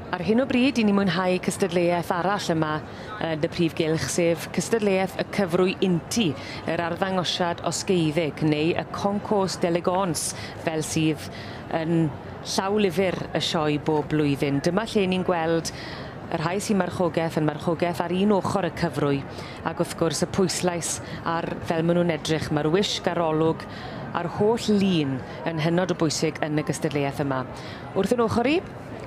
Ar hyn o bryd, i ni mwynhau cystadleuaeth arall yma yn y Prif Gylch, sef cystadleuaeth y cyfrwy inti, yr arddangosiad osgeiddeg, neu y concours d'élégance, fel sydd yn llaw lyfr y sioe bob blwyddyn. Dyma lle ni'n gweld Y rhai sy'n marchogaeth yn marchogaeth ar un ochr y cyfrwy ac wrth gwrs y pwyslais ar fel maen nhw'n edrych. Mae'r wisg a'r olwg a'r holl lun yn hynod o bwysig yn y gystadleuaeth yma. Wrth yn ochr i,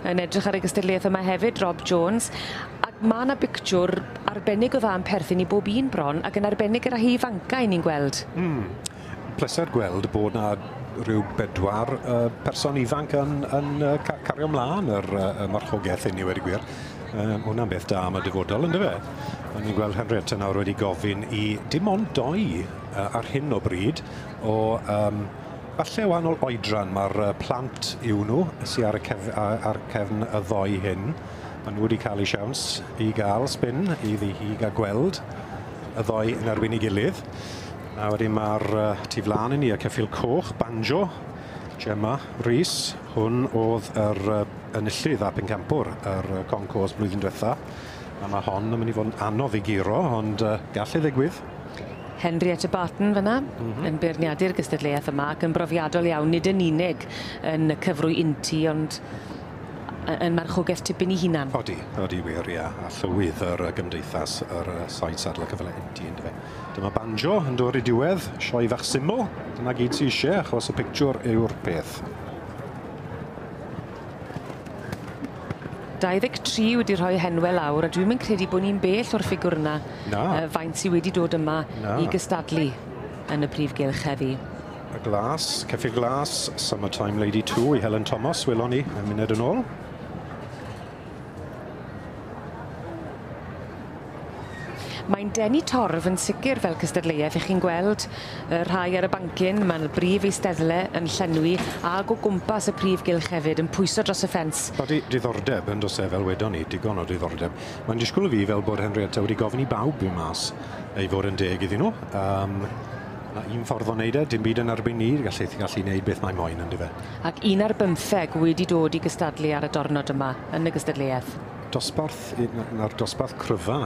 yn edrych ar y gystadleuaeth yma hefyd, Rob Jones, ac mae yna bictiwr arbennig o dda yn perthyn i bob un bron ac yn arbennig y rhai ifancau ni'n gweld. Mm. pleser gweld bod 'na ryw bedwar uh, person ifanc yn, yn uh, cario mlaen yr uh, marchogaeth hynny wedi gwir. Um, hwnna'n beth da am y dyfodol, ynddo fe? Ond ni'n gweld Henrietta nawr wedi gofyn i dim ond doi uh, ar hyn o bryd o um, falle o wahanol oedran mae'r uh, plant yw nhw sy'n ar, y cef, ar cefn y ddoi hyn. Maen nhw wedi cael eu siawns i gael spin i ddi hi gael gweld y ddoi yn erbyn ei gilydd. A wedyn ma'r yy tu flan i ni y ceffyl coch, banjo, Gemma Rees, hwn o'dd yr yy enillydd a phencampwr yr yy concours blwyddyn dwetha, a ma' hon yn myn' i fod yn anodd i guro ond yy gall e ddigwydd. Henrietta Barton fan 'na. M-hm. Yn beirniadu'r gystadleuaeth yma ac yn brofiadol iawn nid yn unig yn y cyfrwy inty ond yy yn marchogaeth tipyn 'i hunan. Odi, odi wir ia, a llywydd yr yy gymdeithas yr yy Said Sadler Cyfyle Inty yndyfe? Dyma banjo yn dod i diwedd, sioe fach syml, dyna gyd ti eisiau achos y pictiwr yw'r peth. 23 wedi rhoi henwe lawr a dwi'm yn credu bod ni'n bell o'r ffigwr yna Na. uh, faint sydd wedi dod yma Na. i gystadlu yn y prif gylch heddi. Y glas, Ceffyl Glas, Summertime Lady 2 i Helen Thomas, welon ni, y munud yn ôl. Mae'n denu torf yn sicr fel cystadleuaeth i chi'n gweld y rhai ar y bancyn, mae'n y brif eisteddle yn llenwi ag o gwmpas y prif gylch hefyd yn pwyso dros y ffens. Body diddordeb yn dos e fel wedon ni, digon o ddiddordeb. Mae'n disgwyl i fi fel bod Henrietta wedi gofyn i bawb fynd mas i fod yn deg iddyn nhw. Um, A un ffordd o neud e, dim byd yn erbyn ni, gallu gallu neud beth mae moyn on'd yfe? Ac un ar bymtheg wedi dod i gystadlu ar y dornod yma yn y gystadleuaeth? Dosbarth yy na- na'r dosbarth cryfa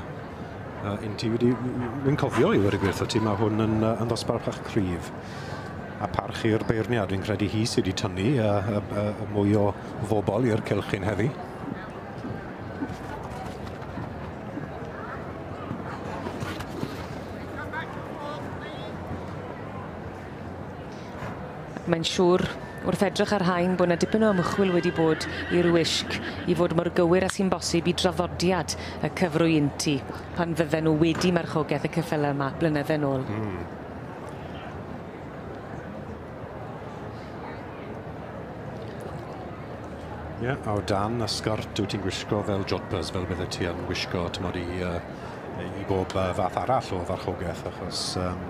yy inti wedi w- w- wi'n cofio i ddweud y gwir 'tho ti ma' hwn yn yy yn ddosbarth bach cryf. A parch i'r beirniad fi'n credu hi sy 'di tynnu yy yy yy yy mwy o fobol i'r cylch hyn heddi. Mae'n siŵr, wrth edrych ar rhain, bod 'na dipyn o ymchwil wedi bod i'r wisg i fod mor gywir â sy'n bosib i draddodiad y cyfrwy inti, pan fydden nhw wedi marchogaeth y ceffyle yma blynydde nôl. Mm. Ie, yeah, o dan y sgort wyt ti'n gwisgo fel jodhpurs, fel bydde ti yn gwisgo, t'mod, i uh, i bob uh, fath arall o farchogaeth, achos um,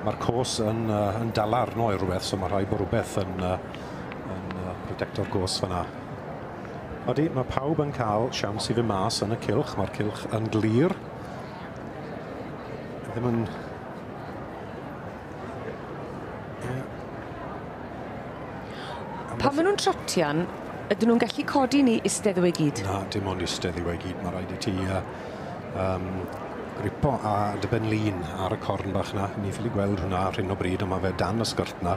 mae'r cos yn, uh, yn dal arno i rhywbeth, so mae rhaid bod rhywbeth yn, uh, yn uh, protecto'r cos fyna. Odi, mae pawb yn cael siawns i fy mas yn y cilch, mae'r cilch yn glir. Ddim yn... Yeah. Pan maen nhw'n trotian, ydyn nhw'n gallu codi ni istedd i gyd? Na, dim ond istedd i gyd, mae rhaid i ti uh, Yym gripo a dy ben lin ar y corn bach 'na. Ni ffili gweld hwnna ar hyn o bryd on' ma' fe dan y sgyrth 'na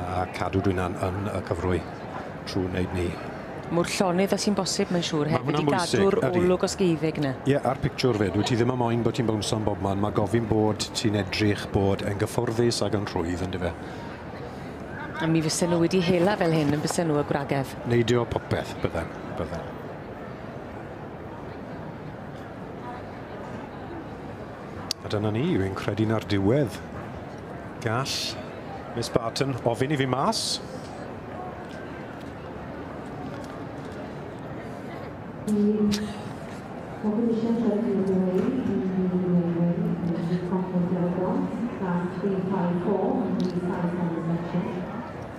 a cadw dwyna'n yn y cyfrwy trw neud 'ny. Mor llonydd a sy'n bosib mae'n siŵr hefyd i gadw'r olwg osgeiddig 'na. Ie a'r pictiwr 'fyd. Wyt ti ddim yn moyn bo' ti'n bownsio yn bobman ma' gofyn bod ti'n edrych bod e'n gyfforddus ag yn rhwydd yndyfe? A mi fysen nw wedi hela fel hyn yn bysen nw y gwragedd? Neidio popeth bydden bydden. A dyna ni, fi'n credu na'r diwedd. Gall Miss Barton ofyn i fi mas.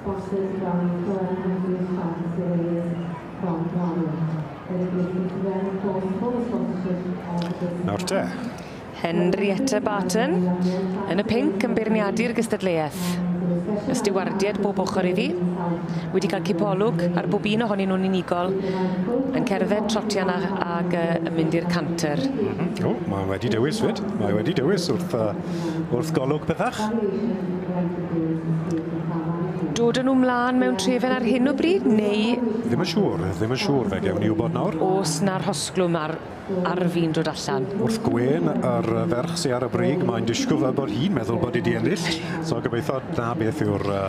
Bosib gawn ni clywed am brif siart Sireus Fron Glawyr? Yr ydych chi'n cyflawni cwrs full of sponsorship all the good Nawr te. Henrietta Barton, yn y pinc, yn beirniadu'r gystadleuaeth. Y stiwardiaid bob ochr iddi, wedi cael cipolwg ar bob un ohonyn nhw'n unigol, yn cerdded trotian a, ag uh, yn mynd i'r canter. Mm-hmm. O, mae wedi dewis fyd. Mae wedi dewis wrth, uh, wrth golwg pethach. Dod â nhw mlân mewn trefen ar hyn o bryd neu...? Ddim yn siŵr, ddim yn siŵr, fe gewn ni wybod nawr. O's 'na rhosglwm ar ar fin dod allan? Wrth gwên yr yy ferch sy ar y brig mae'n disgwl fel bod hi'n meddwl bod 'i 'di ennill so gobeitho 'na beth yw'r yy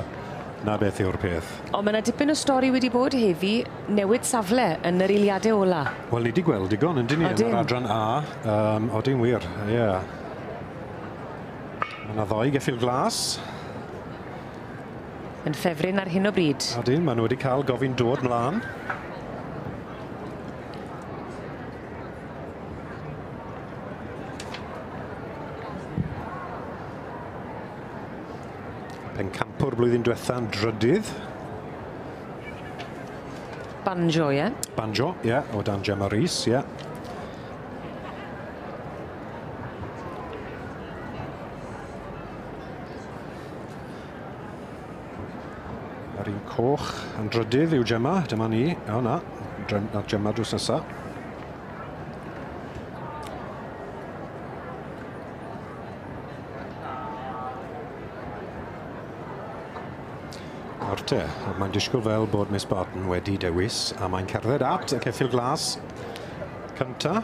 'na beth yw'r peth. On' ma' 'na dipyn o stori wedi bod heddi, newid safle yn yr eiliade ola. Wel ni 'di gweld digon yndyn ni... Odyn. ...yn yr adran A yym odyn wir ie. Mae 'na ddoi geffyl glas. Yn ffefryn ar hyn o bryd. Ydyn, maen nhw wedi cael gofyn dod mlaen. Pencampwr blwyddyn diwetha'n drydydd. Banjo, ie? Yeah. Banjo, ie, yeah, o dan Gemma Rees, ie. Yeah. Yr un coch yn drydydd yw Gemma. Dyma ni. O na, na Gemma drws nesa. Arte, mae'n disgwyl fel bod Miss Barton wedi dewis a mae'n cerdded at y ceffil glas. Cynta.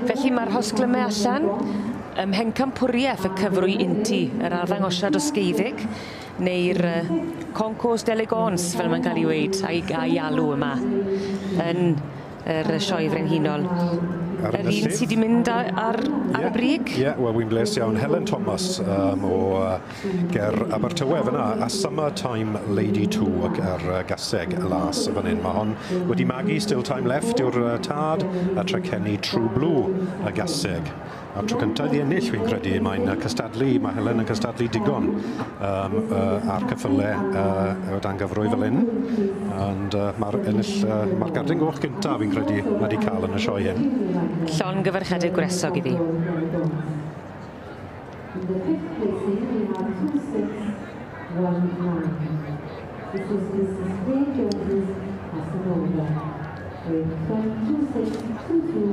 Felly mae'r hosglymau allan ym Mhencampwriaeth y cyfrwy inti, yr arddangosiad osgeiddig, neu'r concours d'élégance fel mae'n cael ei weid a'i, a'i alw yma yn yr Sioe Frenhinol. Yr un sydd wedi mynd ar, ar yeah, y brig? Ie, yeah, wel, wy'n bles iawn. Helen Thomas um, o uh, Ger Abertawe fyn 'na a Summer Time Lady Two ac yr yy gaseg las fan 'yn. Ma' hon wedi magu Still Time Left yw'r yy tad a Tre Ceni True Blue y gaseg. A'r tro cynta iddi ennill fi'n credu mae'n yy cystadlu ma' Helen yn cystadlu digon yym yy a'r cyffyle yy o dan gyfrwy fel 'yn ond yy ma'r ennill yy ma'r gardyn goch gynta fi'n credu ma' 'di ca'l yn y sioe hyn. Llongyfarchiadau gwresog iddi. And the fifth placing we have two six one nine. This is Mrs Wayne Jones' passing over. Wayne twelve two six two two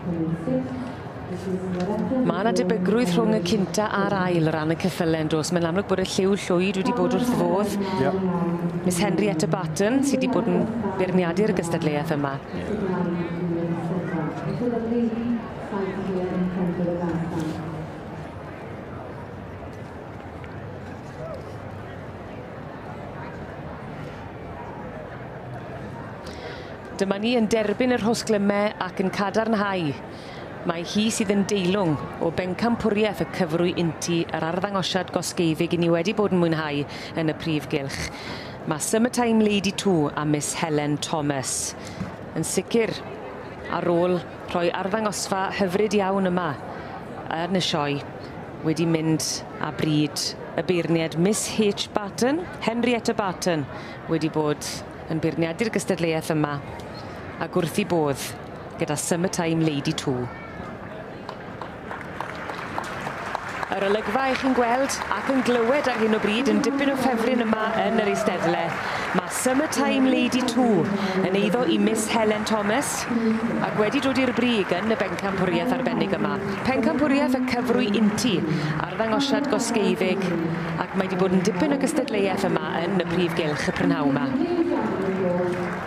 coming sixth Mae yna debygrwydd rhwng y cynta a'r ail ran y ceffylau yn dos. Mae'n amlwg bod y lliw llwyd wedi bod wrth fodd. Yep. Miss Henrietta Barton sydd wedi bod yn beirniadu'r gystadleuaeth yma. Yep. Saif y Heol yn cefndir y garfan. Dyma ni yn derbyn yr hosglyme ac yn cadarnhau. Mae hi sydd yn deilwng o bencampwriaeth y cyfrwy inti yr arddangosiad gosgeiddig i ni wedi bod yn mwynhau yn y prif gylch. Mae Summertime Lady 2 a Miss Helen Thomas. Yn sicr, ar ôl rhoi arddangosfa hyfryd iawn yma yn y sioe wedi mynd â bryd y beirniad Miss H Barton, Henrietta Barton, wedi bod yn beirniadu'r gystadleuaeth yma ag wrth i bodd gyda Summertime Lady Two. Yr olygfa 'ych chi'n gweld ac yn glywed ar hyn o bryd yn dipyn o ffefryn yma yn yr eisteddle, ma' Summer Time Lady Two yn eiddo i Miss Helen Thomas, ac wedi dod i'r brig yn y bencampwriaeth arbennig yma. Pencampwriaeth y cyfrwy inti, arddangosiad gosgeiddig, ac mae 'di bod yn dipyn o gystadleuaeth yma yn y prif gylch y prynhawn 'ma.